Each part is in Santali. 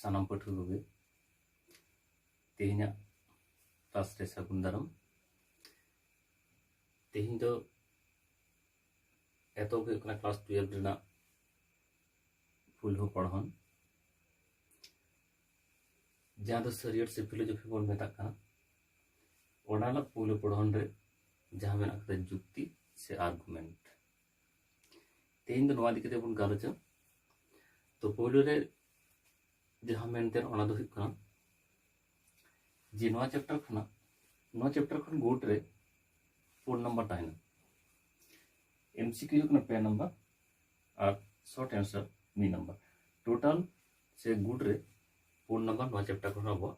ᱥᱟᱱᱟᱢ ᱯᱟᱹᱴᱷᱩᱣᱟᱹ ᱠᱚᱜᱮ ᱛᱮᱦᱮᱧᱟᱜ ᱠᱞᱟᱥ ᱨᱮ ᱥᱟᱹᱜᱩᱱ ᱫᱟᱨᱟᱢ ᱛᱮᱦᱮᱧ ᱫᱚ ᱮᱛᱚᱦᱚᱵ ᱦᱩᱭᱩᱜ ᱠᱟᱱᱟ ᱠᱞᱟᱥ ᱴᱩᱭᱮᱞᱵᱷ ᱨᱮᱱᱟᱜ ᱯᱩᱭᱞᱩ ᱯᱚᱲᱦᱚᱱ ᱡᱟᱦᱟᱸ ᱫᱚ ᱥᱟᱹᱨᱤᱭᱟᱹᱲ ᱥᱮ ᱯᱷᱤᱞᱳᱡᱚᱯᱷᱤ ᱵᱚᱱ ᱢᱮᱛᱟᱜ ᱠᱟᱱᱟ ᱚᱰᱟᱞᱟᱜ ᱯᱳᱭᱞᱳ ᱯᱚᱲᱦᱚᱱ ᱨᱮ ᱡᱟᱦᱟᱸ ᱢᱮᱱᱟᱜ ᱟᱠᱟᱫᱟ ᱡᱩᱠᱛᱤ ᱥᱮ ᱟᱨᱜᱩᱢᱮᱱᱴ ᱛᱮᱦᱮᱧ ᱫᱚ ᱱᱚᱣᱟ ᱤᱫᱤ ᱠᱟᱛᱮ ᱵᱚᱱ ᱜᱟᱞᱚᱪᱟ ᱛᱚ ᱯᱳᱭᱞᱳ ᱨᱮ ᱡᱟᱦᱟᱸ ᱢᱮᱱᱛᱮ ᱚᱱᱟ ᱫᱚ ᱦᱩᱭᱩᱜ ᱠᱟᱱᱟ ᱡᱮ ᱱᱚᱣᱟ ᱪᱮᱯᱴᱟᱨ ᱠᱷᱚᱱᱟᱜ ᱱᱚᱣᱟ ᱪᱮᱯᱴᱟᱨ ᱠᱷᱚᱱ ᱜᱩᱴ ᱨᱮ ᱯᱳᱱ ᱱᱟᱢᱵᱟᱨ ᱛᱟᱦᱮᱱᱟ ᱮᱢᱥᱤᱠᱤᱭᱩ ᱦᱩᱭᱩᱜ ᱠᱟᱱᱟ ᱯᱮ ᱱᱟᱢᱵᱟᱨ ᱟᱨ ᱥᱚᱨᱴ ᱮᱱᱥᱟᱨ ᱢᱤᱫ ᱱᱟᱢᱵᱟᱨ ᱴᱳᱴᱟᱞ ᱥᱮ ᱜᱩᱴ ᱨᱮ ᱯᱳᱱ ᱱᱟᱢᱵᱟᱨ ᱱᱚᱣᱟ ᱪᱮᱯᱴᱟᱨ ᱠᱷᱚᱱ ᱟᱵᱚᱣᱟᱜ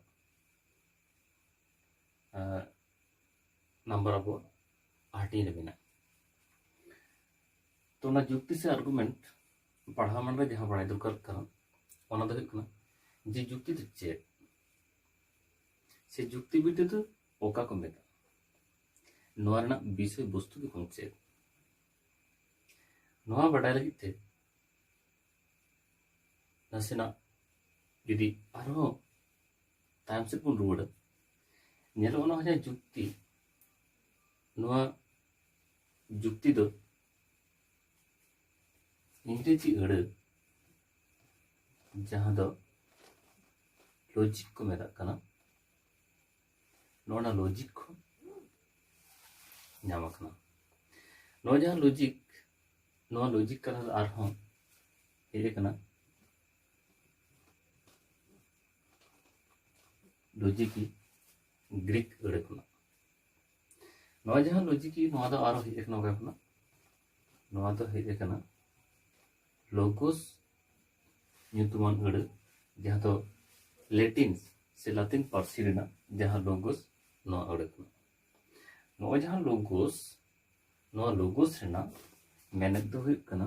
ᱱᱟᱢᱵᱟᱨ ᱟᱵᱚ ᱦᱟᱹᱴᱤᱧ ᱨᱮ ᱢᱮᱱᱟᱜᱼᱟ ᱛᱚ ᱚᱱᱟ ᱡᱩᱠᱛᱤ ᱥᱮ ᱟᱨᱜᱩᱢᱮᱱᱴ ᱯᱟᱲᱦᱟᱣ ᱢᱟᱱ ᱨᱮ ᱡᱟᱦᱟᱸ ᱵᱟᱲᱟᱭ ᱫᱚᱨᱠᱟᱨ ᱠᱟᱱᱟ ᱚᱱᱟ ᱫᱚ ᱦᱩᱭᱩᱜ ᱠᱟᱱᱟ ᱡᱮ ᱡᱩᱠᱛᱤ ᱫᱚ ᱪᱮᱫ ᱥᱮ ᱡᱩᱠᱛᱤ ᱵᱤᱫᱽᱫᱟᱹ ᱫᱚ ᱚᱠᱟ ᱠᱚ ᱢᱮᱛᱟᱜᱼᱟ ᱱᱚᱣᱟ ᱨᱮᱱᱟᱜ ᱵᱤᱥᱚᱭ ᱵᱚᱥᱛᱩ ᱫᱚ ᱵᱟᱝ ᱪᱮᱫ ᱱᱚᱣᱟ ᱵᱟᱰᱟᱭ ᱞᱟᱹᱜᱤᱫ ᱛᱮ ᱱᱟᱥᱮᱱᱟᱜ ᱡᱩᱫᱤ ᱟᱨᱦᱚᱸ ᱛᱟᱭᱚᱢ ᱥᱮᱫ ᱵᱚᱱ ᱨᱩᱣᱟᱹᱲᱟ ᱧᱮᱞᱚᱜ ᱚᱱᱟ ᱡᱟᱦᱟᱸ ᱡᱩᱠᱛᱤ ᱱᱚᱣᱟ ᱡᱩᱠᱛᱤ ᱫᱚ ᱤᱝᱨᱮᱡᱤ ᱟᱹᱲᱟᱹ ᱡᱟᱦᱟᱸ ᱫᱚ ᱞᱚᱡᱤᱠ ᱠᱚ ᱢᱮᱛᱟᱜ ᱠᱟᱱᱟ ᱱᱚᱣᱟ ᱞᱚᱡᱤᱠ ᱠᱚ ᱧᱟᱢ ᱟᱠᱟᱱᱟ ᱱᱚᱣᱟ ᱡᱟᱦᱟᱸ ᱞᱚᱡᱤᱠ ᱱᱚᱣᱟ ᱞᱚᱡᱤᱠ ᱠᱟᱛᱷᱟ ᱫᱚ ᱟᱨᱦᱚᱸ ᱦᱮᱡ ᱟᱠᱟᱱᱟ ᱞᱚᱡᱤᱠᱤ ᱜᱨᱤᱠ ᱟᱹᱲᱟᱹ ᱠᱷᱚᱱᱟᱜ ᱱᱚᱣᱟ ᱡᱟᱦᱟᱸ ᱞᱚᱡᱤᱠᱤ ᱱᱚᱣᱟ ᱫᱚ ᱟᱨᱚ ᱦᱮᱡ ᱟᱠᱟᱱᱟ ᱚᱠᱟ ᱠᱷᱚᱱᱟᱜ ᱱᱚᱣᱟ ᱫᱚ ᱦᱮᱡ ᱟᱠᱟᱱᱟ ᱞᱳᱜᱳᱥ ᱧᱩᱛᱩᱢᱟᱱ ᱟᱹᱲᱟᱹ ᱡᱟᱦᱟᱸ ᱫᱚ ᱞᱮᱴᱤᱱ ᱥᱮ ᱞᱟᱛᱤᱱ ᱯᱟᱹᱨᱥᱤ ᱨᱮᱱᱟᱜ ᱡᱟᱦᱟᱸ ᱞᱳᱜᱳᱥ ᱱᱚᱣᱟ ᱟᱹᱲᱟᱹ ᱠᱷᱚᱱᱟᱜ ᱱᱚᱜᱼᱚᱭ ᱡᱟᱦᱟᱸ ᱞᱳᱜᱳᱥ ᱱᱚᱣᱟ ᱞᱳᱜᱳᱥ ᱨᱮᱱᱟᱜ ᱢᱮᱱᱮᱛ ᱫᱚ ᱦᱩᱭᱩᱜ ᱠᱟᱱᱟ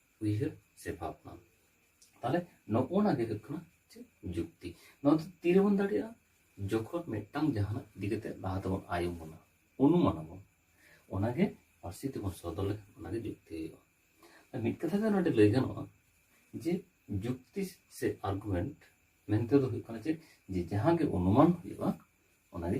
ᱩᱭᱦᱟᱹᱨ ᱥᱮ ᱵᱷᱟᱵᱽᱱᱟ ᱛᱟᱦᱚᱞᱮ ᱱᱚᱜᱼᱚᱱᱟ ᱜᱮ ᱦᱩᱭᱩᱜ ᱠᱟᱱᱟ ᱪᱮᱫ ᱡᱩᱠᱛᱤ ᱱᱚᱣᱟ ᱫᱚ ᱛᱤᱨᱮᱵᱚᱱ ᱫᱟᱲᱮᱭᱟᱜᱼᱟ ᱡᱚᱠᱷᱚᱱ ᱢᱤᱫᱴᱟᱝ ᱡᱟᱦᱟᱱᱟᱜ ᱤᱫᱤ ᱠᱟᱛᱮ ᱞᱟᱦᱟ ᱛᱮᱵᱚᱱ ᱟᱭᱚᱢ ᱵᱚᱱᱟ ᱚᱱᱩᱢᱟᱱ ᱟᱵᱚᱱ ᱚᱱᱟᱜᱮ ᱯᱟᱹᱨᱥᱤ ᱛᱮᱵᱚᱱ ᱥᱚᱫᱚᱨ ᱞᱮᱠᱷᱟᱱ ᱚᱱᱟᱜᱮ ᱡᱩᱠᱛᱤ ᱦᱩᱭᱩᱜᱼᱟ ᱢᱤᱫ ᱠᱟᱛᱷᱟ ᱛᱮ ᱱᱚᱰᱮ ᱞᱟᱹᱭ ᱜᱟᱱᱚᱜᱼᱟ ᱡᱮ ᱡᱩᱠᱛᱤ ᱥᱮ ᱟᱨᱜᱩᱢᱮᱱᱴ ᱢᱮᱱᱛᱮ ᱫᱚ ᱦᱩᱭᱩᱜ ᱠᱟᱱᱟ ᱪᱮᱫ ᱡᱮ ᱡᱟᱦᱟᱸ ᱜᱮ ᱚᱱᱩᱢᱟᱱ ᱦᱩᱭᱩᱜᱼᱟ ᱚᱱᱟᱜᱮ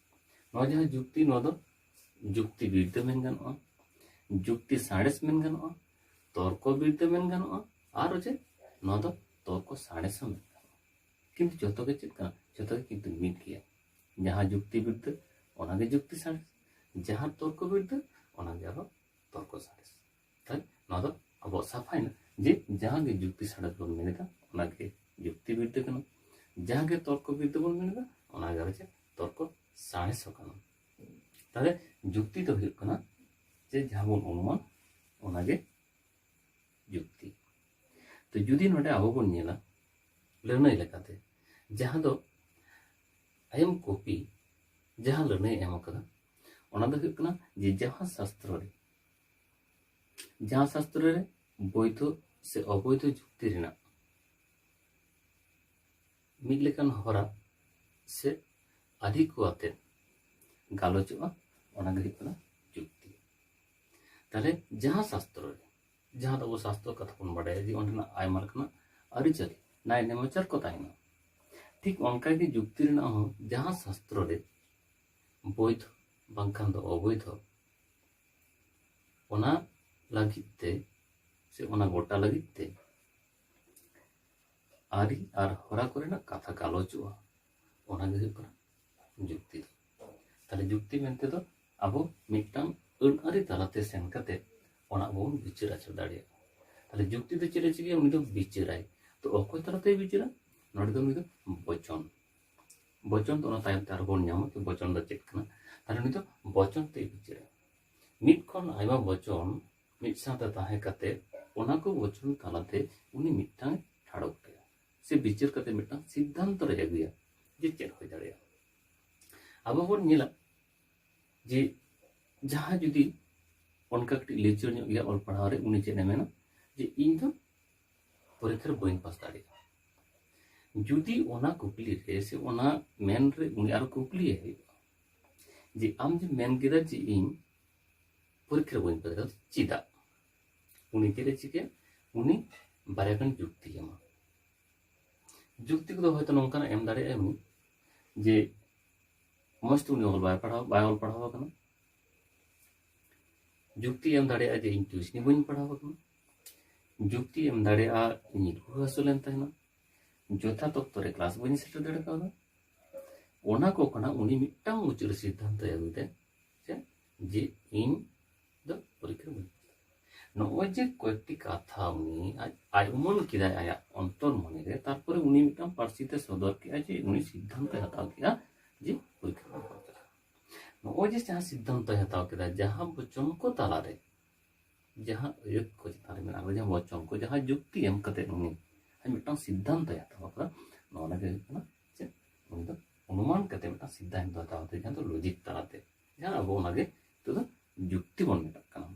ᱱᱚᱣᱟ ᱡᱟᱦᱟᱸ ᱡᱩᱠᱛᱤ ᱱᱚᱣᱟ ᱫᱚ ᱡᱩᱠᱛᱤ ᱵᱤᱨᱫᱟᱹ ᱢᱮᱱ ᱜᱟᱱᱚᱜᱼᱟ ᱡᱩᱠᱛᱤ ᱥᱟᱬᱮᱥ ᱢᱮᱱ ᱜᱟᱱᱚᱜᱼᱟ ᱛᱚᱨᱠᱚ ᱵᱤᱨᱫᱟᱹ ᱢᱮᱱ ᱜᱟᱱᱚᱜᱼᱟ ᱟᱨ ᱪᱮᱫ ᱱᱚᱣᱟ ᱫᱚ ᱛᱚᱨᱠᱚ ᱥᱟᱬᱮᱥ ᱦᱚᱸ ᱢᱮᱱ ᱜᱟᱱᱚᱜᱼᱟ ᱠᱤᱱᱛᱩ ᱡᱚᱛᱚ ᱜᱮ ᱪᱮᱫ ᱠᱟᱱᱟ ᱡᱚᱛᱚ ᱜᱮ ᱠᱤᱱᱛᱩ ᱢᱤᱫ ᱜᱮᱭᱟ ᱡᱟᱦᱟᱸ ᱡᱩᱠᱛᱤ ᱵᱤᱨᱫᱟᱹ ᱚᱱᱟᱜᱮ ᱡᱩᱠᱛᱤ ᱥᱟᱬᱮᱥ ᱡᱟᱦᱟᱸ ᱛᱚᱨᱠᱚ ᱵᱤᱨᱫᱟᱹ ᱚᱱᱟᱜᱮ ᱟᱨᱦᱚᱸ ᱛᱚᱨᱠᱚ ᱥᱟᱬᱮᱥ ᱛᱟᱦᱚᱞᱮ ᱱᱚᱣᱟ ᱫᱚ ᱟᱵᱚᱣᱟᱜ ᱥᱟᱯᱷᱟᱭᱮᱱᱟ ᱡᱮ ᱡᱟᱦᱟᱸ ᱜᱮ ᱡᱩᱠᱛᱤ ᱥᱟᱬᱮᱥ ᱵᱚᱱ ᱢᱮᱱᱮᱫᱟ ᱚᱱᱟᱜᱮ ᱡᱩᱠᱛᱤ ᱵᱤᱨᱫᱟᱹ ᱠᱟᱱᱟ ᱡᱟᱦᱟᱸ ᱜᱮ ᱛᱚᱨᱠᱚ ᱵᱤᱨᱫᱟᱹ ᱵᱚᱱ ᱢᱮᱱᱮᱫᱟ ᱚᱱᱟᱜᱮ ᱟᱨ ᱪᱮᱫ ᱛᱚᱨᱠᱚ ᱥᱟᱬᱮᱥ ᱦᱚᱸ ᱠᱟᱱᱟ ᱛᱟᱦᱚᱞᱮ ᱡᱩᱠᱛᱤ ᱫᱚ ᱦᱩᱭᱩᱜ ᱠᱟᱱᱟ ᱡᱮ ᱡᱟᱦᱟᱸ ᱵᱚᱱ ᱚᱱᱩᱢᱟᱱ ᱚᱱᱟᱜᱮ ᱡᱩᱠᱛᱤ ᱛᱚ ᱡᱩᱫᱤ ᱱᱚᱰᱮ ᱟᱵᱚ ᱵᱚᱱ ᱧᱮᱞᱟ ᱞᱟᱹᱱᱟᱹᱭ ᱞᱮᱠᱟᱛᱮ ᱡᱟᱦᱟᱸ ᱫᱚ ᱟᱭᱮᱢ ᱠᱚᱯᱤ ᱡᱟᱦᱟᱸ ᱞᱟᱹᱱᱟᱹᱭ ᱮᱢ ᱟᱠᱟᱫᱟ ᱚᱱᱟ ᱫᱚ ᱦᱩᱭᱩᱜ ᱠᱟᱱᱟ ᱡᱮ ᱡᱟᱦᱟᱸ ᱥᱟᱥᱛᱨᱚ ᱨᱮ ᱡᱟᱦᱟᱸ ᱥᱟᱥᱛᱨᱚ ᱨᱮ ᱵᱳᱭᱫᱷᱚ ᱥᱮ ᱚᱵᱳᱭᱫᱷᱚ ᱡᱩᱠᱛᱤ ᱨᱮᱱᱟᱜ ᱢᱤᱫ ᱞᱮᱠᱟᱱ ᱦᱚᱨᱟ ᱥᱮ ᱟᱹᱫᱷᱤ ᱠᱚ ᱟᱛᱮ ᱜᱟᱞᱚᱪᱚᱜᱼᱟ ᱚᱱᱟ ᱜᱮ ᱦᱩᱭᱩᱜ ᱠᱟᱱᱟ ᱡᱩᱠᱛᱤ ᱛᱟᱦᱞᱮ ᱡᱟᱦᱟᱸ ᱥᱟᱥᱛᱨᱚ ᱨᱮ ᱡᱟᱦᱟᱸ ᱫᱚ ᱟᱵᱚ ᱥᱟᱥᱛᱨᱚ ᱠᱟᱛᱷᱟ ᱵᱚᱱ ᱵᱟᱰᱟᱭᱟ ᱡᱮ ᱚᱸᱰᱮᱱᱟᱜ ᱟᱭᱢᱟ ᱞᱮᱠᱟᱱᱟᱜ ᱟᱹᱨᱤᱪᱟᱹᱞᱤ ᱱᱟᱭ ᱱᱮᱢᱟᱪᱟᱨ ᱠᱚ ᱛᱟᱦᱮᱱᱟ ᱴᱷᱤᱠ ᱚᱱᱠᱟᱜᱮ ᱡᱩᱠᱛᱤ ᱨᱮᱱᱟᱜ ᱦᱚᱸ ᱡᱟᱦᱟᱸ ᱥᱟᱥᱛᱨᱚ ᱨᱮ ᱵᱳᱭᱫᱷᱚ ᱵᱟᱝᱠᱷᱟᱱ ᱫᱚ ᱚᱵᱳᱭᱫᱷᱚ ᱚᱱᱟ ᱞᱟᱹᱜᱤᱫ ᱛᱮ ᱥᱮ ᱚᱱᱟ ᱜᱚᱴᱟ ᱞᱟᱹᱜᱤᱫ ᱛᱮ ᱟᱹᱨᱤ ᱟᱨ ᱦᱚᱨᱟ ᱠᱚᱨᱮᱱᱟᱜ ᱠᱟᱛᱷᱟ ᱜᱟᱞᱚᱪᱚᱜᱼᱟ ᱚᱱᱟᱜᱮ ᱦᱩᱭᱩᱜ ᱠᱟᱱᱟ ᱡᱩᱠᱛᱤ ᱫᱚ ᱛᱟᱦᱞᱮ ᱡᱩᱠᱛᱤ ᱢᱮᱱᱛᱮ ᱫᱚ ᱟᱵᱚ ᱢᱤᱫᱴᱟᱝ ᱟᱹᱱ ᱟᱹᱨᱤ ᱛᱟᱞᱟᱛᱮ ᱥᱮᱱ ᱠᱟᱛᱮ ᱚᱱᱟ ᱵᱚᱱ ᱵᱤᱪᱟᱹᱨ ᱟᱪᱟᱨ ᱫᱟᱲᱮᱭᱟᱜᱼᱟ ᱛᱟᱦᱞᱮ ᱡᱩᱠᱛᱤ ᱫᱚ ᱪᱮᱫ ᱮ ᱪᱤᱠᱟᱹᱭᱟ ᱩᱱᱤ ᱫᱚ ᱵᱤᱪᱟᱹᱨᱟᱭ ᱛᱚ ᱚᱠᱚᱭ ᱛᱟᱞᱟᱛᱮᱭ ᱵᱤᱪᱟᱹᱨᱟ ᱱᱚᱰᱮ ᱫᱚ ᱩᱱᱤ ᱫᱚ ᱵᱚᱪᱚᱱ ᱵᱚᱪᱚᱱ ᱫᱚ ᱚᱱᱟ ᱛᱟᱭᱚᱢ ᱛᱮ ᱟᱨᱦᱚᱸ ᱵᱚᱱ ᱧᱟᱢᱟ ᱡᱮ ᱵᱚᱪᱚᱱ ᱫᱚ ᱪᱮᱫ ᱠᱟᱱᱟ ᱛᱟᱦᱚᱞᱮ ᱩᱱᱤ ᱫᱚ ᱵᱚᱪᱚᱱ ᱛᱮᱭ ᱵᱤᱪᱟᱹᱨᱟ ᱢᱤᱫ ᱠᱷᱚᱱ ᱟᱭᱢᱟ ᱵᱚᱪᱚᱱ ᱢᱤᱫ ᱥᱟᱶᱛᱮ ᱛᱟᱦᱮᱸ ᱠᱟᱛᱮ ᱚᱱᱟ ᱠᱚ ᱵᱚᱪᱚᱱ ᱛᱟᱞᱟᱛᱮ ᱩᱱᱤ ᱢᱤᱫᱴᱟᱝ ᱴᱷᱟᱲᱚ ᱜᱚᱴᱟᱭᱟ ᱥᱮ ᱵᱤᱪᱟᱹᱨ ᱠᱟᱛᱮ ᱢᱤᱫᱴᱟᱝ ᱥᱤᱫᱽᱫᱷᱟᱱᱛᱚ ᱨᱮ ᱟᱹᱜᱩᱭᱟ ᱡᱮ ᱪᱮᱫ ᱦᱩᱭ ᱫᱟᱲᱮᱭᱟᱜᱼᱟ ᱟᱵᱚ ᱵᱚᱱ ᱧᱮᱞᱟ ᱡᱮ ᱡᱟᱦᱟᱸ ᱡᱩᱫᱤ ᱚᱱᱠᱟ ᱠᱟᱹᱴᱤᱡ ᱞᱤᱪᱟᱹᱲ ᱧᱚᱜ ᱜᱮᱭᱟ ᱚᱞ ᱯᱟᱲᱦᱟᱣ ᱨᱮ ᱩᱱᱤ ᱪᱮᱫ ᱮ ᱢᱮᱱᱟ ᱡᱮ ᱤᱧ ᱫᱚ ᱯᱚᱨᱤᱠᱷᱟ ᱨᱮ ᱵᱟᱹᱧ ᱯᱟᱥ ᱫᱟᱲᱮᱭᱟᱜᱼᱟ ᱡᱩᱫᱤ ᱚᱱᱟ ᱠᱩᱠᱞᱤ ᱨᱮ ᱥᱮ ᱚᱱᱟ ᱢᱮᱱ ᱨᱮ ᱩᱱᱤ ᱟᱨ ᱠᱩᱠᱞᱤᱭᱮ ᱦᱩᱭᱩᱜᱼᱟ ᱡᱮ ᱟᱢ ᱡᱮ ᱢᱮᱱ ᱠᱮᱫᱟ ᱡᱮ ᱤᱧ ᱯᱚᱨᱤᱠᱷᱟ ᱨᱮ ᱵᱟᱹᱧ ᱯᱟᱥ ᱫᱟᱲᱮᱭᱟᱜᱼᱟ ᱪᱮᱫᱟᱜ ᱩᱱᱤ ᱪᱮᱫ ᱮ ᱪᱤᱠᱟᱹᱭᱟ ᱩᱱᱤ ᱵᱟᱨᱭᱟ ᱜᱟᱱ ᱡᱩᱠᱛᱤ ᱮᱢᱟ ᱡᱩᱠᱛᱤ ᱠᱚᱫᱚ ᱦᱚᱭᱛᱳ ᱱᱚᱝᱠᱟᱱᱟᱜ ᱮᱢ ᱫᱟᱲᱮᱭᱟᱜᱼᱟ ᱩᱱᱤ ᱡᱮ ᱢᱚᱡᱽ ᱛᱮ ᱩᱱᱤ ᱚᱞ ᱵᱟᱭ ᱯᱟᱲᱦᱟᱣ ᱵᱟᱭ ᱚᱞ ᱯᱟᱲᱦᱟᱣ ᱟᱠᱟᱱᱟ ᱡᱩᱠᱛᱤ ᱮᱢ ᱫᱟᱲᱮᱭᱟᱜᱼᱟ ᱡᱮ ᱤᱧ ᱴᱤᱭᱩᱥᱱᱤ ᱵᱟᱹᱧ ᱯᱟᱲᱦᱟᱣ ᱟᱠᱟᱱᱟ ᱡᱩᱠᱛᱤ ᱮᱢ ᱫᱟᱲᱮᱭᱟᱜᱼᱟ ᱤᱧ ᱨᱩᱣᱟᱹ ᱦᱟᱹᱥᱩ ᱞᱮᱱ ᱛᱟᱦᱮᱱᱟ ᱡᱚᱛᱷᱟᱛ ᱚᱠᱛᱚ ᱨᱮ ᱠᱞᱟᱥ ᱵᱟᱹᱧ ᱥᱮᱴᱮᱨ ᱫᱟᱲᱮ ᱠᱟᱣᱫᱟ ᱚᱱᱟ ᱠᱚ ᱠᱷᱚᱱᱟᱜ ᱩᱱᱤ ᱢᱤᱫᱴᱟᱝ ᱢᱩᱪᱟᱹᱫ ᱨᱮ ᱥᱤᱫᱽᱫᱷᱟᱱᱛᱚᱭ ᱟᱹᱜᱩ ᱠᱮᱫᱟ ᱡᱮ ᱡᱮ ᱤᱧ ᱫᱚ ᱯᱚᱨᱤᱠᱠᱷᱟ ᱵᱟᱹᱧ ᱱᱚᱜᱼᱚᱭ ᱡᱮ ᱠᱚᱭᱮᱠᱴᱤ ᱠᱟᱛᱷᱟ ᱩᱱᱤ ᱟᱡ ᱟᱡ ᱩᱢᱟᱹᱱ ᱠᱮᱫᱟᱭ ᱟᱭᱟᱜ ᱚᱱᱛᱚᱨ ᱢᱚᱱᱮ ᱨᱮ ᱛᱟᱨᱯᱚᱨᱮ ᱩᱱᱤ ᱢᱤᱫᱴᱟᱝ ᱯᱟᱹᱨᱥᱤ ᱛᱮ ᱥᱚᱫᱚᱨ ᱠᱮᱫᱟ ᱡᱮ ᱩᱱᱤ ᱥᱤᱫᱽᱫᱷᱟᱱᱛᱚᱭ ᱦᱟᱛᱟᱣ ᱠᱮᱫᱟ ᱡᱮ ᱯᱚᱨᱤᱠᱠᱷᱟ ᱵᱟᱹᱧ ᱠᱚᱨᱟᱣ ᱱᱚᱜᱼᱚᱭ ᱡᱮ ᱡᱟᱦᱟᱸ ᱥᱤᱫᱽᱫᱷᱟᱱᱛᱚᱭ ᱦᱟᱛᱟᱣ ᱠᱮᱫᱟ ᱡᱟᱦᱟᱸ ᱵᱚᱪᱚᱱ ᱠᱚ ᱛᱟᱞᱟᱨᱮ ᱡᱟᱦᱟᱸ ᱟᱹᱭᱟᱹᱛ ᱠᱚ ᱪᱮᱛᱟᱱ ᱨᱮ ᱢᱮᱱᱟᱜ ᱡᱟᱦᱟᱸ ᱵᱚᱪᱚᱱ ᱠᱚ ᱡᱟᱦᱟᱸ ᱡᱩᱠᱛᱤ ᱮᱢ ᱠᱟᱛᱮ ᱩᱱᱤ ᱟᱡ ᱢᱤᱫᱴᱟᱝ ᱥᱤᱫᱽᱫᱷᱟᱱᱛᱚᱭ ᱦᱟᱛᱟᱣ ᱟᱠᱟᱫᱟ ᱱᱚᱣᱟ ᱞᱟᱹᱜᱤᱫ ᱦᱩᱭᱩᱜ ᱠᱟᱱᱟ ᱪᱮᱫ ᱩᱱᱤ ᱫᱚ ᱚᱱᱩᱢᱟᱱ ᱠᱟᱛᱮ ᱢᱤᱫᱴᱟᱝ ᱥᱤᱫᱽᱫᱷᱟᱱᱛᱚ ᱦᱟᱛᱟᱣ ᱠᱟᱛᱮ ᱡᱟᱦᱟᱸ ᱫᱚ ᱞᱚᱡᱤᱠ ᱛᱟᱞᱟᱛᱮ ᱡᱟᱦᱟᱸ ᱟᱵᱚ ᱚᱱᱟᱜᱮ ᱱᱤᱛᱚᱜ ᱫᱚ ᱡᱩᱠᱛᱤ ᱵᱚᱱ ᱢᱮᱛᱟᱜ ᱠᱟᱱᱟ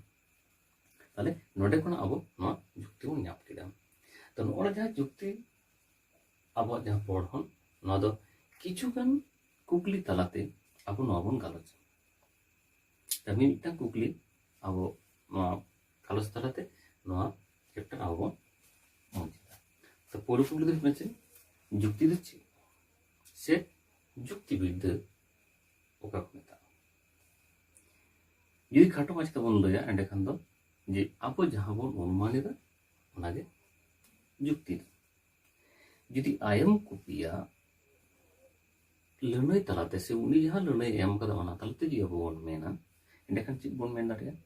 ᱛᱟᱦᱞᱮ ᱱᱚᱰᱮ ᱠᱷᱚᱱᱟᱜ ᱟᱵᱚ ᱱᱚᱣᱟ ᱡᱩᱠᱛᱤ ᱵᱚᱱ ᱧᱟᱢ ᱠᱮᱫᱟ ᱛᱚ ᱱᱚᱜᱼᱚᱭ ᱡᱟᱦᱟᱸ ᱡᱩᱠᱛᱤ ᱟᱵᱚᱣᱟᱜ ᱡᱟᱦᱟᱸ ᱯᱚᱲᱦᱚᱱ ᱱᱚᱣᱟ ᱫᱚ ᱠᱤᱪᱷᱩᱜᱟᱱ ᱠᱩᱠᱞᱤ ᱛᱟᱞᱟᱛᱮ ᱟᱵᱚ ᱱᱚᱣᱟ ᱵᱚᱱ ᱜᱟᱞᱚᱪᱟ ᱛᱟᱦᱚᱞᱮ ᱢᱤᱫᱴᱟᱝ ᱠᱩᱠᱞᱤ ᱟᱵᱚ ᱱᱚᱣᱟ ᱜᱟᱞᱚᱪ ᱛᱟᱞᱟᱛᱮ ᱱᱚᱣᱟ ᱪᱮᱯᱴᱟᱨ ᱟᱵᱚ ᱵᱚᱱ ᱢᱩᱪᱟᱹᱫᱟ ᱛᱚ ᱯᱳᱭᱞᱳ ᱠᱩᱠᱞᱤ ᱫᱚ ᱦᱩᱭᱩᱜ ᱠᱟᱱᱟ ᱪᱮᱫ ᱡᱩᱠᱛᱤ ᱫᱚ ᱪᱮᱫ ᱥᱮ ᱡᱩᱠᱛᱤ ᱵᱤᱨᱫᱟᱹ ᱚᱠᱟ ᱠᱚ ᱢᱮᱛᱟᱜᱼᱟ ᱡᱩᱫᱤ ᱠᱷᱟᱴᱚ ᱢᱟᱪᱷᱟ ᱛᱮᱵᱚᱱ ᱞᱟᱹᱭᱟ ᱮᱸᱰᱮᱠᱷᱟᱱ ᱫᱚ ᱡᱮ ᱟᱵᱚ ᱡᱟᱦᱟᱸ ᱵᱚᱱ ᱚᱱᱩᱢᱟᱱ ᱮᱫᱟ ᱚᱱᱟᱜᱮ ᱡᱩᱠᱛᱤ ᱫᱚ ᱡᱩᱫᱤ ᱟᱭᱮᱢ ᱠᱚᱯᱤᱭᱟ ᱞᱟᱹᱱᱟᱹᱭ ᱛᱟᱞᱟᱛᱮ ᱥᱮ ᱩᱱᱤ ᱡᱟᱦᱟᱸ ᱞᱟᱹᱱᱟᱹᱭ ᱮᱢ ᱠᱟᱫᱟ ᱚᱱᱟ ᱛᱟᱞᱟᱛᱮ ᱡᱩᱫᱤ ᱟᱵᱚ ᱵᱚᱱ ᱢᱮᱱᱟ ᱮᱸᱰᱮᱠᱷᱟᱱ ᱪᱮᱫ ᱵᱚᱱ ᱢᱮᱱ ᱫᱟᱲᱮᱭᱟᱜᱼᱟ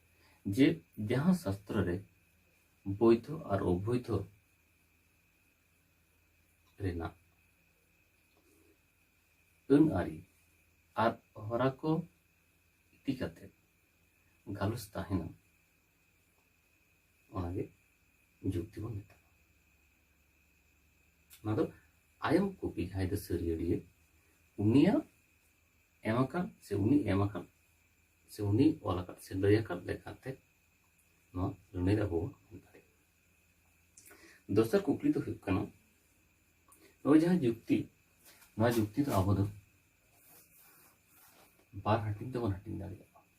ᱡᱮ ᱡᱟᱦᱟᱸ ᱥᱟᱥᱛᱨᱚ ᱨᱮ ᱵᱳᱭᱫᱷᱚ ᱟᱨ ᱚᱵᱳᱭᱫᱷᱚ ᱨᱮᱱᱟᱜ ᱟᱹᱱ ᱟᱹᱨᱤ ᱟᱨ ᱦᱚᱨᱟ ᱠᱚ ᱤᱫᱤ ᱠᱟᱛᱮ ᱜᱟᱞᱚᱪ ᱛᱟᱦᱮᱱᱟ ᱚᱱᱟᱜᱮ ᱡᱩᱠᱛᱤ ᱵᱚᱱ ᱢᱮᱛᱟᱜᱼᱟ ᱚᱱᱟ ᱫᱚ ᱟᱭᱚᱢ ᱠᱚᱯᱤ ᱡᱟᱦᱟᱸᱭ ᱫᱚ ᱥᱟᱹᱨᱤᱭᱟᱹᱲᱤᱭᱟᱹ ᱩᱱᱤᱭᱟᱜ ᱮᱢ ᱟᱠᱟᱱ ᱥᱮ ᱩᱱᱤ ᱮᱢ ᱟᱠᱟᱱ ᱥᱮ ᱩᱱᱤ ᱚᱞ ᱟᱠᱟᱫ ᱥᱮ ᱞᱟᱹᱭ ᱟᱠᱟᱫ ᱞᱮᱠᱟᱛᱮ ᱱᱚᱣᱟ ᱞᱟᱹᱱᱟᱹᱭ ᱟᱵᱚ ᱵᱚᱱ ᱮᱢ ᱫᱟᱲᱮᱭᱟᱜᱼᱟ ᱫᱚᱥᱟᱨ ᱠᱩᱠᱞᱤ ᱫᱚ ᱦᱩᱭᱩᱜ ᱠᱟᱱᱟ ᱱᱚᱜᱼᱚᱭ ᱡᱟᱦᱟᱸ ᱡᱩᱠᱛᱤ ᱱᱚᱣᱟ ᱡᱩᱠᱛᱤ ᱫᱚ ᱟᱵᱚ ᱫᱚ ᱵᱟᱨ ᱦᱟᱹᱴᱤᱧ ᱛᱮᱵᱚᱱ ᱦᱟᱹᱴᱤᱧ ᱫᱟᱲᱮᱭᱟᱜᱼᱟ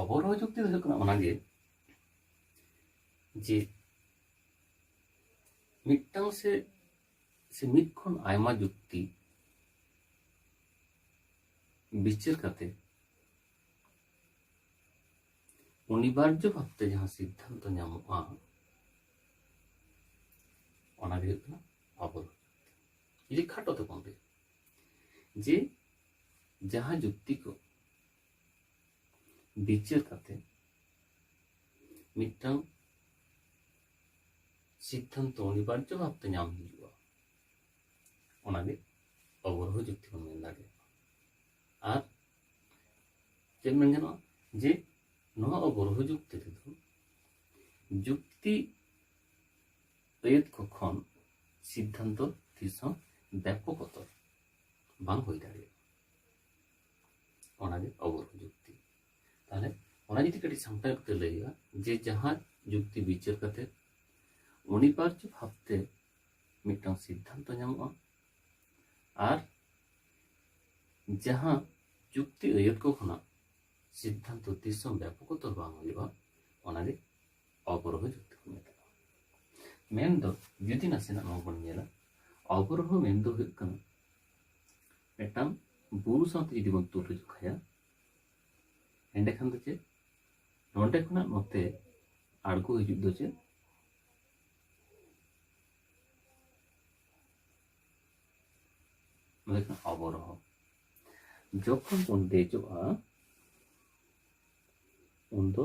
ᱚᱵᱚᱨᱳᱦᱚ ᱡᱩᱠᱛᱤ ᱫᱚ ᱦᱩᱭᱩᱜ ᱠᱟᱱᱟ ᱚᱱᱟᱜᱮ ᱡᱮ ᱢᱤᱫᱴᱟᱝ ᱥᱮ ᱥᱮ ᱢᱤᱫ ᱠᱷᱚᱱ ᱟᱭᱢᱟ ᱡᱩᱠᱛᱤ ᱵᱤᱪᱟᱹᱨ ᱠᱟᱛᱮ ᱚᱱᱤᱵᱟᱨᱡᱚ ᱵᱷᱟᱵᱛᱮ ᱡᱟᱦᱟᱸ ᱥᱤᱫᱽᱫᱷᱟᱱᱛᱚ ᱧᱟᱢᱚᱜᱼᱟ ᱚᱱᱟᱜᱮ ᱦᱩᱭᱩᱜ ᱠᱟᱱᱟ ᱚᱵᱚᱨᱳᱦᱚ ᱡᱩᱠᱛᱤ ᱡᱩᱫᱤ ᱠᱷᱟᱴᱚ ᱛᱮᱵᱚᱱ ᱞᱟᱹᱭᱟ ᱡᱮ ᱡᱟᱦᱟᱸ ᱡᱩᱠᱛᱤ ᱠᱚ ᱵᱤᱪᱟᱹᱨ ᱠᱟᱛᱮ ᱢᱤᱫᱴᱟᱝ ᱥᱤᱫᱽᱫᱷᱟᱱᱛᱚ ᱚᱱᱤᱵᱟᱨᱡᱚ ᱵᱷᱟᱵᱛᱮ ᱧᱟᱢ ᱦᱩᱭᱩᱜᱼᱟ ᱚᱱᱟᱜᱮ ᱚᱵᱚᱨᱦᱚ ᱡᱩᱠᱛᱤ ᱵᱚᱱ ᱢᱮᱱ ᱫᱟᱲᱮᱭᱟᱜᱼᱟ ᱟᱨ ᱪᱮᱫ ᱢᱮᱱ ᱜᱟᱱᱚᱜᱼᱟ ᱡᱮ ᱱᱚᱣᱟ ᱚᱵᱚᱨᱦᱚ ᱡᱩᱠᱛᱤ ᱨᱮᱫᱚ ᱡᱩᱠᱛᱤ ᱟᱹᱭᱟᱹᱛ ᱠᱚ ᱠᱷᱚᱱ ᱥᱤᱫᱽᱫᱷᱟᱱᱛᱚ ᱛᱤᱥ ᱦᱚᱸ ᱵᱮᱯᱚᱠᱚᱛᱚ ᱵᱟᱝ ᱦᱩᱭ ᱫᱟᱲᱮᱭᱟᱜᱼᱟ ᱚᱱᱟᱜᱮ ᱚᱵᱚᱨᱚ ᱡᱩᱠᱛᱤ ᱛᱟᱦᱚᱞᱮ ᱚᱱᱟ ᱡᱩᱫᱤ ᱠᱟᱹᱴᱤᱡ ᱥᱟᱢᱴᱟᱣ ᱠᱟᱛᱮ ᱞᱟᱹᱭ ᱦᱩᱭᱩᱜᱼᱟ ᱡᱮ ᱡᱟᱦᱟᱸ ᱡᱩᱠᱛᱤ ᱵᱤᱪᱟᱹᱨ ᱠᱟᱛᱮ ᱚᱱᱤᱵᱟᱨᱡᱚ ᱵᱷᱟᱵᱛᱮ ᱢᱤᱫᱴᱟᱝ ᱥᱤᱫᱽᱫᱷᱟᱱᱛᱚ ᱧᱟᱢᱚᱜᱼᱟ ᱟᱨ ᱡᱟᱦᱟᱸ ᱡᱩᱠᱛᱤ ᱟᱹᱭᱟᱹᱛ ᱠᱚ ᱠᱷᱚᱱᱟᱜ ᱥᱤᱫᱽᱫᱷᱟᱱᱛᱚ ᱛᱤᱥ ᱦᱚᱸ ᱵᱮᱯᱚᱠᱚᱛᱚᱨ ᱵᱟᱝ ᱦᱩᱭᱩᱜᱼᱟ ᱚᱱᱟᱜᱮ ᱚᱵᱚᱨᱳᱦᱚ ᱡᱩᱠᱛᱤ ᱠᱚ ᱢᱮᱛᱟᱜᱼᱟ ᱢᱮᱱᱫᱚ ᱡᱩᱫᱤ ᱱᱟᱥᱮᱱᱟᱜ ᱱᱚᱣᱟ ᱵᱚᱱ ᱧᱮᱞᱟ ᱚᱵᱚᱨᱳᱦᱚ ᱢᱮᱱᱫᱚ ᱦᱩᱭᱩᱜ ᱠᱟᱱᱟ ᱢᱤᱫᱴᱟᱝ ᱵᱩᱨᱩ ᱥᱟᱶᱛᱮ ᱡᱩᱫᱤ ᱵᱚᱱ ᱛᱩᱞᱟᱹ ᱡᱚᱠᱷᱟᱭᱟ ᱮᱸᱰᱮᱠᱷᱟᱱ ᱫᱚ ᱪᱮᱫ ᱱᱚᱰᱮ ᱠᱷᱚᱱᱟᱜ ᱱᱚᱛᱮ ᱟᱬᱜᱚ ᱦᱤᱡᱩᱜ ᱫᱚ ᱪᱮᱫ ᱱᱚᱰᱮ ᱠᱷᱚᱱᱟᱜ ᱚᱵᱚᱨᱳᱦᱚ ᱡᱚᱠᱷᱚᱱ ᱵᱚᱱ ᱫᱮᱡᱚᱜᱼᱟ ᱩᱱᱫᱚ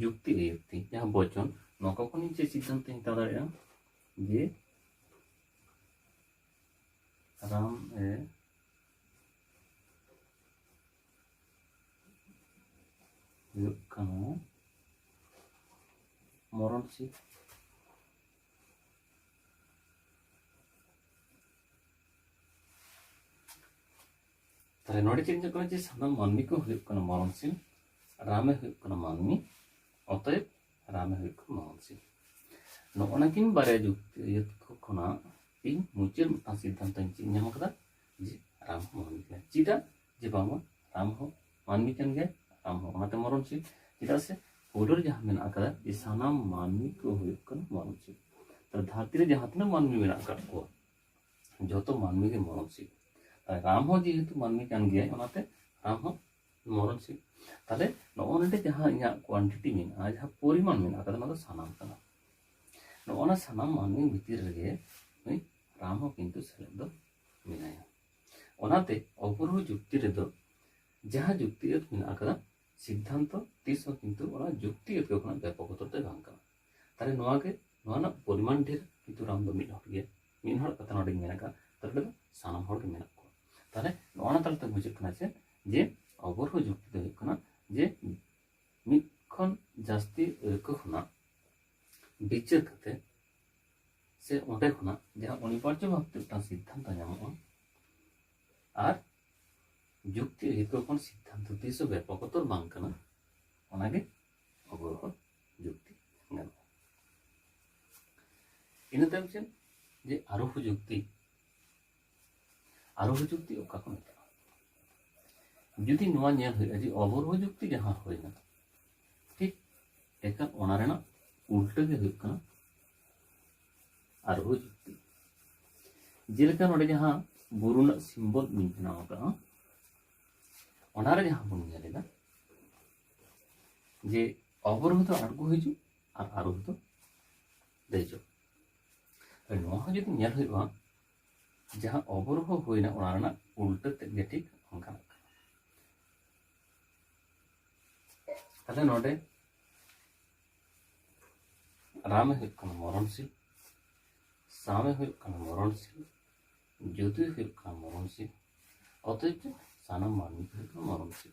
ᱡᱩᱠᱛᱤ ᱱᱤᱭᱩᱠᱛᱤ ᱡᱟᱦᱟᱸ ᱵᱚᱪᱚᱱ ᱱᱚᱣᱟ ᱠᱚ ᱠᱷᱚᱱ ᱤᱧ ᱪᱮᱫ ᱥᱤᱫᱽᱫᱷᱟᱱᱛᱚᱧ ᱦᱟᱛᱟᱣ ᱫᱟᱲᱮᱭᱟᱜᱼᱟ ᱡᱮ ᱨᱟᱢ ᱮ ᱦᱩᱭᱩᱜ ᱠᱟᱱᱟ ᱢᱚᱨᱚᱱ ᱥᱤᱫᱽ ᱛᱟᱦᱚᱞᱮ ᱱᱚᱰᱮ ᱪᱮᱫ ᱧᱮᱞᱚᱜ ᱠᱟᱱᱟ ᱡᱮ ᱥᱟᱱᱟᱢ ᱢᱟᱹᱱᱢᱤ ᱠᱚ ᱦᱩᱭᱩᱜ ᱠᱟᱱᱟ ᱢᱚᱨᱚᱱᱥᱤᱞ ᱨᱟᱢᱮ ᱦᱩᱭᱩᱜ ᱠᱟᱱᱟ ᱢᱟᱹᱱᱢᱤ ᱚᱛᱚᱭᱮᱵ ᱨᱟᱢᱮ ᱦᱩᱭᱩᱜ ᱠᱟᱱᱟ ᱢᱚᱨᱚᱱᱥᱤᱞ ᱱᱚᱜᱼᱚ ᱱᱟᱠᱤᱱ ᱵᱟᱨᱭᱟ ᱡᱩᱠᱛᱤ ᱠᱷᱚᱱᱟᱜ ᱤᱧ ᱢᱩᱪᱟᱹᱫ ᱢᱤᱫᱴᱟᱝ ᱥᱤᱫᱽᱫᱷᱟᱱᱛᱚ ᱤᱧ ᱪᱮᱫ ᱧᱟᱢ ᱠᱟᱫᱟ ᱡᱮ ᱨᱟᱢ ᱦᱚᱸ ᱢᱟᱹᱱᱢᱤ ᱠᱟᱱᱟ ᱪᱮᱫᱟᱜ ᱡᱮ ᱵᱟᱝᱢᱟ ᱨᱟᱢ ᱦᱚᱸ ᱢᱟᱹᱱᱢᱤ ᱠᱟᱱ ᱜᱮᱭᱟ ᱨᱟᱢ ᱦᱚᱸ ᱚᱱᱟᱛᱮ ᱢᱚᱨᱚᱱᱥᱤᱞ ᱪᱮᱫᱟᱜ ᱥᱮ ᱯᱳᱭᱞᱳ ᱨᱮ ᱡᱟᱦᱟᱸ ᱢᱮᱱᱟᱜ ᱟᱠᱟᱫᱟ ᱡᱮ ᱥᱟᱱᱟᱢ ᱢᱟᱹᱱᱢᱤ ᱠᱚ ᱦᱩᱭᱩᱜ ᱠᱟᱱᱟ ᱢᱚᱨᱚᱱᱥᱤᱞ ᱛᱟᱦᱚᱞᱮ ᱫᱷᱟᱹᱨᱛᱤ ᱨᱮ ᱡᱟᱦᱟᱸ ᱛᱤᱱᱟᱹᱜ ᱢᱟᱹᱱᱢᱤ ᱢᱮᱱᱟᱜ ᱟᱠᱟᱫ ᱠᱚᱣᱟ ᱡᱚᱛᱚ ᱢᱟᱹᱱᱢᱤ ᱜᱮ ᱢᱚᱨᱚᱱᱥᱤᱞ ᱛᱟᱦᱞᱮ ᱨᱟᱢ ᱦᱚᱸ ᱡᱮᱦᱮᱛᱩ ᱢᱟᱹᱱᱢᱤ ᱠᱟᱱ ᱜᱮᱭᱟᱭ ᱚᱱᱟᱛᱮ ᱨᱟᱢ ᱦᱚᱸ ᱢᱚᱨᱚᱱᱥᱤᱞ ᱛᱟᱦᱞᱮ ᱱᱚᱜᱼᱚ ᱱᱚᱰᱮ ᱡᱟᱦᱟᱸ ᱤᱧᱟᱹᱜ ᱠᱳᱣᱟᱱᱴᱤᱴᱤ ᱢᱮᱱᱟᱜᱼᱟ ᱡᱟᱦᱟᱸ ᱯᱚᱨᱤᱢᱟᱱ ᱢᱮᱱᱟᱜ ᱟᱠᱟᱫᱟ ᱚᱱᱟ ᱫᱚ ᱥᱟᱱᱟᱢ ᱠᱟᱱᱟ ᱱᱚᱜᱼᱚ ᱱᱟ ᱥᱟᱱᱟᱢ ᱢᱟᱹᱱᱢᱤ ᱵᱷᱤᱛᱤᱨ ᱨᱮᱜᱮ ᱱᱩᱭ ᱨᱟᱢ ᱦᱚᱸ ᱠᱤᱱᱛᱩ ᱥᱮᱞᱮᱫ ᱫᱚ ᱢᱮᱱᱟᱭᱟ ᱚᱱᱟᱛᱮ ᱚᱯᱩᱨᱵᱚ ᱡᱩᱠᱛᱤ ᱨᱮᱫᱚ ᱡᱟᱦᱟᱸ ᱡᱩᱠᱛᱤ ᱟᱹᱛ ᱢᱮᱱᱟᱜ ᱟᱠᱟᱫᱟ ᱥᱤᱫᱽᱫᱷᱟᱱᱛᱚ ᱛᱤᱥ ᱦᱚᱸ ᱠᱤᱱᱛᱩ ᱚᱱᱟ ᱡᱩᱠᱛᱤ ᱟᱹᱛ ᱠᱷᱚᱱᱟᱜ ᱵᱮᱯᱚᱠ ᱩᱛᱟᱹᱨ ᱫᱚ ᱵᱟᱝ ᱠᱟᱱᱟ ᱛᱟᱦᱚᱞᱮ ᱱᱚᱣᱟ ᱜᱮ ᱱᱚᱣᱟ ᱨᱮᱱᱟᱜ ᱯᱚᱨᱤᱢᱟᱱ ᱰᱷᱮᱨ ᱠᱤᱱᱛᱩ ᱨᱟᱢ ᱫᱚ ᱢᱤᱫ ᱦᱚᱲ ᱜᱮ ᱢᱤᱫ ᱦᱚᱲ ᱠᱟᱛᱷᱟ ᱱᱚᱰᱮᱧ ᱢᱮᱱ ᱟᱠᱟᱫ ᱛᱟᱦᱚᱞᱮ ᱫᱚ ᱥᱟᱱᱟᱢ ᱦᱚᱲ ᱜᱮ ᱢᱮᱱᱟᱜ ᱠᱚᱣᱟ ᱛᱟᱦᱚᱞᱮ ᱱᱚᱜᱼᱚ ᱱᱟ ᱛᱟᱞᱟᱛᱮ ᱵᱩᱡᱷᱟᱹᱜ ᱠᱟᱱᱟ ᱪᱮᱫ ᱡᱮ ᱚᱵᱚᱨᱦᱚ ᱡᱩᱠᱛᱤ ᱫᱚ ᱦᱩᱭᱩᱜ ᱠᱟᱱᱟ ᱡᱮ ᱢᱤᱫ ᱠᱷᱚᱱ ᱡᱟᱹᱥᱛᱤ ᱟᱹᱭᱠᱟᱹ ᱠᱷᱚᱱᱟᱜ ᱵᱤᱪᱟᱹᱨ ᱠᱟᱛᱮ ᱥᱮ ᱚᱸᱰᱮ ᱠᱷᱚᱱᱟᱜ ᱡᱟᱦᱟᱸ ᱚᱱᱤᱵᱟᱨᱡᱚ ᱵᱷᱟᱵᱛᱮ ᱢᱤᱫᱴᱟᱝ ᱥᱤᱫᱽᱫᱷᱟᱱᱛᱚ ᱧᱟᱢᱚᱜᱼᱟ ᱟᱨ ᱡᱩᱠᱛᱤ ᱟᱹᱭᱠᱟᱹᱣ ᱠᱷᱚᱱ ᱥᱤᱫᱽᱫᱷᱟᱱᱛᱚ ᱛᱤᱥ ᱦᱚᱸ ᱵᱮᱯᱚᱠᱚᱛᱚᱨ ᱵᱟᱝ ᱠᱟᱱᱟ ᱚᱱᱟᱜᱮ ᱚᱜᱚᱨ ᱦᱚᱸ ᱡᱩᱠᱛᱤ ᱜᱟᱱᱚᱜᱼᱟ ᱤᱱᱟᱹ ᱛᱟᱭᱚᱢ ᱪᱮᱫ ᱡᱮ ᱟᱨᱳᱦᱚ ᱡᱩᱠᱛᱤ ᱟᱨᱳᱦᱚ ᱡᱩᱠᱛᱤ ᱚᱠᱟ ᱠᱚ ᱢᱮᱛᱟᱜᱼᱟ ᱡᱩᱫᱤ ᱱᱚᱣᱟ ᱧᱮᱞ ᱦᱩᱭᱩᱜᱼᱟ ᱡᱮ ᱚᱵᱚᱨᱳᱦᱚ ᱡᱩᱠᱛᱤ ᱡᱟᱦᱟᱸ ᱦᱩᱭᱱᱟ ᱴᱷᱤᱠ ᱮᱠᱟᱞ ᱚᱱᱟ ᱨᱮᱱᱟᱜ ᱩᱞᱴᱟᱹ ᱜᱮ ᱦᱩᱭᱩᱜ ᱠᱟᱱᱟ ᱟᱨᱳᱦᱚ ᱡᱩᱠᱛᱤ ᱡᱮᱞᱮᱠᱟ ᱱᱚᱰᱮ ᱡᱟᱦᱟᱸ ᱵᱩᱨᱩ ᱨᱮᱱᱟᱜ ᱥᱤᱢᱵᱚᱞ ᱤᱧ ᱵᱮᱱᱟᱣ ᱟᱠᱟᱫᱼᱟ ᱚᱱᱟᱨᱮ ᱡᱟᱦᱟᱸ ᱵᱚᱱ ᱧᱮᱞ ᱮᱫᱟ ᱡᱮ ᱚᱵᱚᱨᱳᱦᱚ ᱫᱚ ᱟᱬᱜᱚ ᱦᱤᱡᱩᱜ ᱟᱨ ᱟᱨᱳᱦᱚ ᱫᱚ ᱫᱮᱡᱚᱜ ᱱᱚᱣᱟ ᱦᱚᱸ ᱡᱩᱫᱤ ᱧᱮᱞ ᱦᱩᱭᱩᱜᱼᱟ ᱡᱟᱦᱟᱸ ᱚᱵᱚᱨᱳᱦᱚ ᱦᱩᱭᱱᱟ ᱚᱱᱟ ᱨᱮᱱᱟᱜ ᱩᱞᱴᱟᱹ ᱛᱮᱫ ᱜᱮ ᱴᱷᱤᱠ ᱚᱱᱠᱟᱱᱟᱜ ᱠᱟᱱᱟ ᱛᱟᱦᱞᱮ ᱱᱚᱰᱮ ᱨᱟᱢᱮ ᱦᱩᱭᱩᱜ ᱠᱟᱱᱟ ᱢᱚᱨᱚᱱᱥᱤᱞ ᱥᱟᱢᱮ ᱦᱩᱭᱩᱜ ᱠᱟᱱᱟ ᱢᱚᱨᱚᱱᱥᱤᱞ ᱡᱩᱫᱩᱭ ᱦᱩᱭᱩᱜ ᱠᱟᱱᱟ ᱢᱚᱨᱚᱱᱥᱤᱞ ᱚᱛᱚᱭᱮᱵ ᱥᱟᱱᱟᱢ ᱢᱟᱹᱱᱢᱤ ᱠᱚ ᱦᱩᱭᱩᱜ ᱠᱟᱱᱟ ᱢᱚᱨᱚᱱᱥᱤᱞ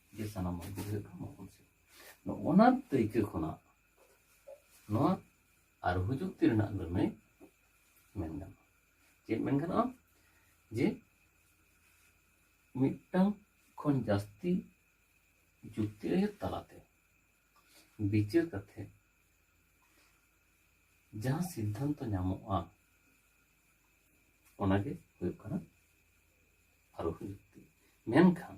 ᱡᱮ ᱥᱟᱱᱟᱢ ᱢᱟᱹᱱᱢᱤ ᱫᱚ ᱦᱩᱭᱩᱜ ᱠᱟᱱᱟ ᱢᱚᱦᱚᱱ ᱥᱤᱝ ᱱᱚᱜᱼᱚᱱᱟ ᱫᱟᱹᱭᱠᱟᱹ ᱠᱷᱚᱱᱟᱜ ᱱᱚᱣᱟ ᱟᱨᱦᱩ ᱡᱩᱠᱛᱤ ᱨᱮᱱᱟᱜ ᱞᱟᱹᱱᱟᱹᱭ ᱢᱮᱱ ᱜᱟᱱᱚᱜᱼᱟ ᱪᱮᱫ ᱢᱮᱱ ᱜᱟᱱᱚᱜᱼᱟ ᱡᱮ ᱢᱤᱫᱴᱟᱝ ᱠᱷᱚᱱ ᱡᱟᱹᱥᱛᱤ ᱡᱩᱠᱛᱤ ᱟᱹᱭᱟᱹᱛ ᱛᱟᱞᱟᱛᱮ ᱵᱤᱪᱟᱹᱨ ᱠᱟᱛᱮ ᱡᱟᱦᱟᱸ ᱥᱤᱫᱽᱫᱷᱟᱱᱛᱚ ᱧᱟᱢᱚᱜᱼᱟ ᱚᱱᱟᱜᱮ ᱦᱩᱭᱩᱜ ᱠᱟᱱᱟ ᱟᱨᱦᱩ ᱡᱩᱠᱛᱤ ᱢᱮᱱᱠᱷᱟᱱ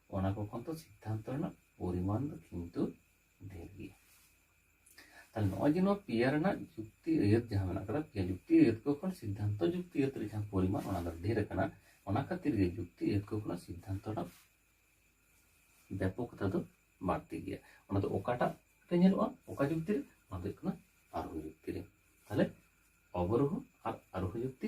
ᱚᱱᱟ ᱠᱚ ᱠᱷᱚᱱ ᱫᱚ ᱥᱤᱫᱽᱫᱷᱟᱱᱛᱚ ᱨᱮᱱᱟᱜ ᱯᱚᱨᱤᱢᱟᱱ ᱫᱚ ᱠᱤᱱᱛᱩ ᱰᱷᱮᱨ ᱜᱮᱭᱟ ᱛᱟᱦᱞᱮ ᱱᱚᱜᱼᱚᱭ ᱡᱮ ᱱᱚᱣᱟ ᱯᱮᱭᱟ ᱨᱮᱱᱟᱜ ᱡᱩᱠᱛᱤ ᱟᱹᱭᱟᱹᱛ ᱡᱟᱦᱟᱸ ᱢᱮᱱᱟᱜ ᱠᱟᱫᱟ ᱯᱮᱭᱟ ᱡᱩᱠᱛᱤ ᱟᱹᱭᱟᱹᱛ ᱠᱚ ᱠᱷᱚᱱ ᱥᱤᱫᱽᱫᱷᱟᱱᱛᱚ ᱡᱩᱠᱛᱤ ᱟᱹᱭᱟᱹᱛ ᱨᱮ ᱡᱟᱦᱟᱸ ᱯᱚᱨᱤᱢᱟᱱ ᱚᱱᱟ ᱫᱚ ᱰᱷᱮᱨ ᱟᱠᱟᱱᱟ ᱚᱱᱟ ᱠᱷᱟᱹᱛᱤᱨ ᱜᱮ ᱡᱩᱠᱛᱤ ᱟᱹᱭᱟᱹᱛ ᱠᱚ ᱠᱷᱚᱱᱟᱜ ᱥᱤᱫᱽᱫᱷᱟᱱᱛᱚ ᱨᱮᱱᱟᱜ ᱵᱮᱯᱚᱠᱛᱟ ᱫᱚ ᱵᱟᱹᱲᱛᱤ ᱜᱮᱭᱟ ᱚᱱᱟ ᱫᱚ ᱚᱠᱟᱴᱟᱜ ᱨᱮ ᱧᱮᱞᱚᱜᱼᱟ ᱚᱠᱟ ᱡᱩᱠᱛᱤ ᱨᱮ ᱚᱱᱟ ᱫᱚ ᱦᱩᱭᱩᱜ ᱠᱟᱱᱟ ᱟᱨᱳᱦᱚ ᱡᱩᱠᱛᱤ ᱨᱮ ᱛᱟᱦᱞᱮ ᱚᱵᱚᱨᱳᱦᱚ ᱟᱨ ᱟᱨᱳᱦᱚ ᱡᱩᱠᱛᱤ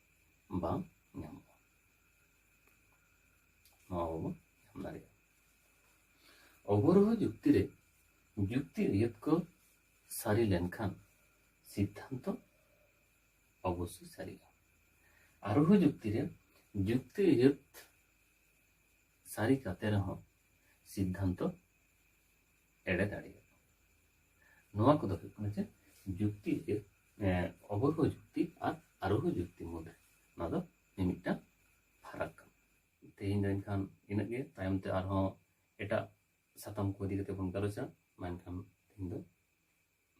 ᱵᱟᱝ ᱧᱟᱢᱚᱜᱼᱟ ᱱᱚᱣᱟ ᱵᱟᱵᱚᱱ ᱧᱟᱢ ᱫᱟᱲᱮᱭᱟᱜᱼᱟ ᱚᱵᱚᱨᱳᱦᱚ ᱡᱩᱠᱛᱤ ᱨᱮ ᱡᱩᱠᱛᱤ ᱟᱹᱭᱟᱹᱛ ᱠᱚ ᱥᱟᱹᱨᱤ ᱞᱮᱱᱠᱷᱟᱱ ᱥᱤᱫᱽᱫᱷᱟᱱᱛᱚ ᱚᱵᱚᱥᱥᱳᱭ ᱥᱟᱹᱨᱤᱜᱼᱟ ᱟᱨᱳᱦᱚ ᱡᱩᱠᱛᱤ ᱨᱮ ᱡᱩᱠᱛᱤ ᱟᱹᱭᱟᱹᱛ ᱥᱟᱹᱨᱤ ᱠᱟᱛᱮ ᱨᱮᱦᱚᱸ ᱥᱤᱫᱽᱫᱷᱟᱱᱛᱚ ᱮᱲᱮ ᱫᱟᱲᱮᱭᱟᱜᱼᱟ ᱱᱚᱣᱟ ᱠᱚᱫᱚ ᱦᱩᱭᱩᱜ ᱠᱟᱱᱟ ᱪᱮᱫ ᱡᱩᱠᱛᱤ ᱡᱮ ᱚᱵᱚᱨᱦᱚ ᱡᱩᱠᱛᱤ ᱟᱨ ᱟᱨᱳᱦᱚ ᱡᱩᱠᱛᱤ ᱢᱩᱫᱽᱨᱮ ᱱᱚᱣᱟ ᱫᱚ ᱢᱤᱢᱤᱫᱴᱟᱝ ᱯᱷᱟᱨᱟᱠ ᱠᱟᱱᱟ ᱛᱮᱦᱮᱧ ᱫᱚ ᱮᱱᱠᱷᱟᱱ ᱤᱱᱟᱹᱜ ᱜᱮ ᱛᱟᱭᱚᱢ ᱛᱮ ᱟᱨᱦᱚᱸ ᱮᱴᱟᱜ ᱥᱟᱛᱟᱢ ᱠᱚ ᱤᱫᱤ ᱠᱟᱛᱮ ᱵᱚᱱ ᱜᱟᱞᱚᱪᱟ ᱢᱮᱱᱠᱷᱟᱱ ᱛᱮᱦᱮᱧ ᱫᱚ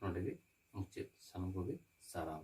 ᱱᱚᱰᱮ ᱜᱮ ᱢᱩᱪᱟᱹᱫ ᱥᱟᱱᱟᱢ ᱠᱚᱜᱮ ᱥᱟᱨᱦᱟᱣ